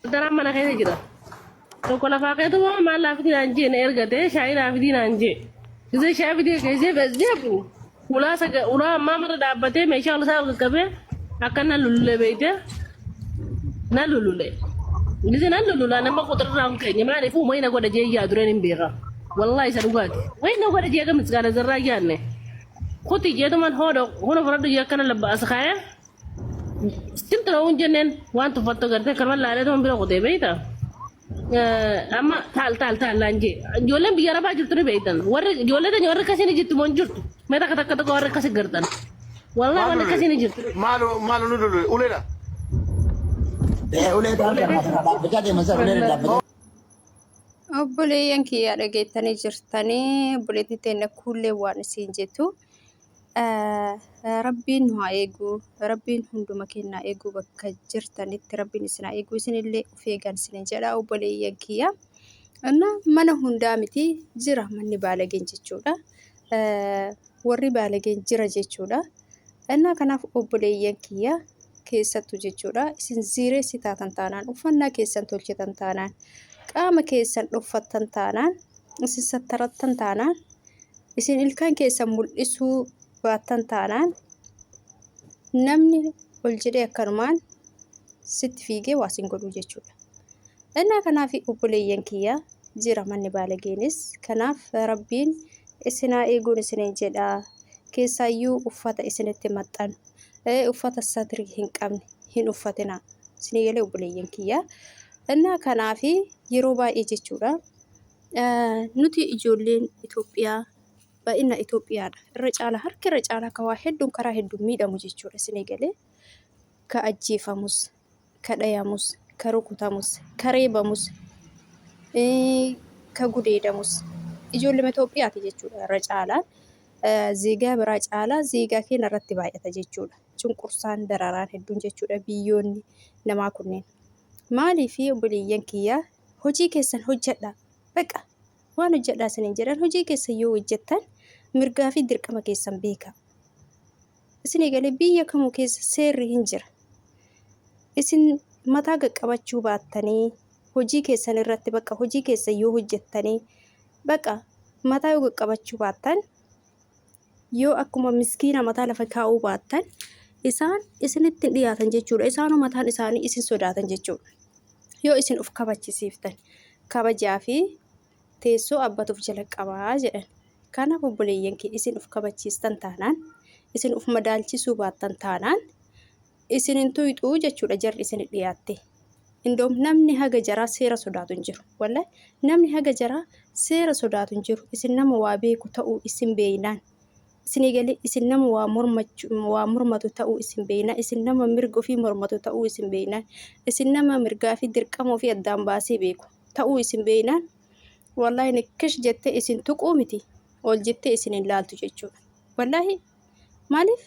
Daraan mana keessa jira. Tokko lafaa keetu moo maal naa fidii naan jee na ergate shaayii naa fidii naan jee. Gisee shaayii fidee geessee bas jeebu. Ulaa saga ulaa ammaa marra dhaabbatee meeshaa ol isaa ol qaqqabee akka na lululee beeyte na lulule. Gisee na lulula nama quxirraa hin keenye maaliif uumanii na godha jee yaa dureen hin beeka. Wallaahi isa dhugaati. Wayi na godha jee akka misgaana zarraa yaanne. Kuti jeetuman hoodo huna furadhu jee akkana labba as kaayee. Sitti ta'uun jenneen waan tuffattu gartee kaman laalee ta'uun bira kutee beekta. Amma taal taal taal laan jee ijoolleen biyya arabaa jirtu ni beektan warri ijoollee tanya warri akkasii ni jirtu moo hin jirtu mee takka takka tokko warri akkasii gartan wallaahi warri akkasii ni jirtu. Maalo maalo nu lulu ulela. Ulee taarka dhaabbachaa deeman sana ulee dhaabbachaa. Obboleeyyan kiyyaa dhageettanii jirtanii obboleettii teenya kuullee waan isiin jettu. Rabbiin nu haa eegu. Rabbiin hunduma kennaa eeguu bakka jirtanitti rabbiin isin haa eegu. Isinillee of eegan isin jedha obboleeyyan kiyya. Anna mana hundaa miti jira manni baalageen jechuudha. Warri baalageen jira jechuudha. Anna kanaaf obboleeyyan kiyya keessattu jechuudha. Isin ziireessi taatan taanaan uffannaa keessan tolchitan taanaan qaama keessan dhoffattan taanaan isin sattarattan taanaan Isin ilkaan keessan mul'isuu baattan taanaan namni ol jedhee akkanumaan sitti fiigee waa sin godhuu jechuudha. Innaa kanaaf obboleeyyan kiyya jira manni baalageenis kanaaf rabbiin isinaa eeguun isiniin jedha keessaayyuu uffata isinitti maxxanu uffata satrii hin qabne hin uffatina isinii galee obboleeyyan kiyya. Innaa kanaaf yeroo baay'ee jechuudha Nuti ijoolleen Itoophiyaa baay'ina Itoophiyaadha. Irra caalaa harki irra caalaa kan waa hedduun karaa hedduun miidhamu jechuudha isin eegalee. Ka ajjeefamus, ka dhayamus, ka rukutamus, ka reebamus, ka gudeedamus ijoollee Itoophiyaati jechuudha irra caalaa. Zeegaa biraa caalaa zeegaa keenya irratti baay'ata jechuudha. Cunqursaan dararaan hedduun jechuudha biyyoonni namaa kunneen. Maaliif obboleeyyan kiyyaa hojii keessan hojjadhaa. Baqa! Waan hojjadhaa isiniin jedhan hojii keessan yoo hojjattan mirgaa fi dirqama keessan beekaa. Isin eegalee biyya kamuu keessa seerri hin jira. Isin mataa qaqqabachuu baattanii hojii keessan irratti baqa hojii keessan yoo hojjattanii baqa mataa yoo qaqqabachuu baattan Yoo akkuma miskiina mataa lafa kaa'uu baattan, isaan isinitti hin dhiyaatan jechuudha. Isaanuu mataan isaanii isin sodaatan jechuudha. Yoo isin of kabachisiiftan, kabajaa fi teessoo abbatuuf jala qabaa jedhan. Kanaaf obboleeyyan kee isin of kabachiistan taanaan, isin of madaalchisuu baattan taanaan, isin hin tuyxuu jechuudha jarri isin dhiyaatte. Indoom namni haga jaraa seera sodaatu hin jiru. Wallahi namni haga jaraa seera sodaatu hin jiru. Isin nama waa beeku ta'uu isin beeynaan. Isin eegalee isin nama waa mormachu waa mormatu ta'uu isin beeynaan. Isin nama mirga ofii mormatu ta'uu isin beeynaan. Isin nama mirgaa fi dirqama ofii addaan baasee beeku ta'uu isin beeynaan. Wallahi nikkish jettee isin tuquu miti. Ol jettee isin hin laaltu jechuudha. Wallahi Maaliif?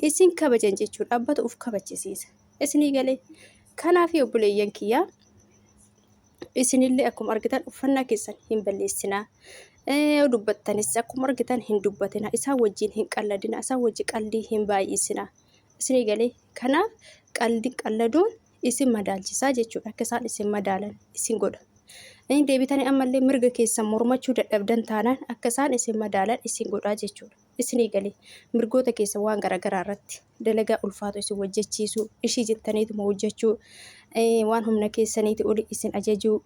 Isin kabajan jechuudha. Dhaabbata uf kabachisiisa. Isinii galee. Kanaafii obboleeyyan kiyyaa isinillee akkuma argitan uffannaa keessan hin balleessinaa. Yoo dubbattanis akkuma argitan hin dubbatina. Isaan wajjin hin qalladina. Isaan wajjin qaldii hin baay'isina. Isinii galee. Kanaaf qaldi qalladuun isin madaalchisaa jechuudha. Akka isaan isin madaalan isin godha. Inni deebitanii ammallee mirga keessan mormachuu dadhabdan taanaan akka isaan isin madaalan isin godhaa jechuudha. isin eegale mirgoota keessan waan garaagaraa irratti dalagaa ulfaatu isin hojjechiisu ishii jettaniituma hojjechuu waan humna keessaniiti oli isin ajajuu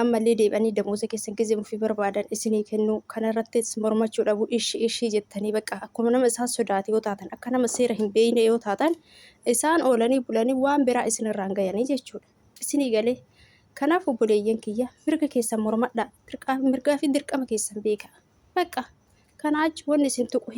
ammallee deebanii damoosa keessan gizee ofii barbaadan isinii kennuu kanarrattis mormachuu dhabu ishii ishii jettanii bakka akkuma nama isaan sodaate yoo taatan akka nama seera hin beekne yoo taatan isaan oolanii bulanii waan biraa isinirraan gayanii jechuudha. Isinii galee? Kanaaf obboleeyyan kiyya mirga keessan mormadhaa, mirgaa fi dirqama keessan beekaa. Baqqa! Kanaa achi wanni isin tuqu hin.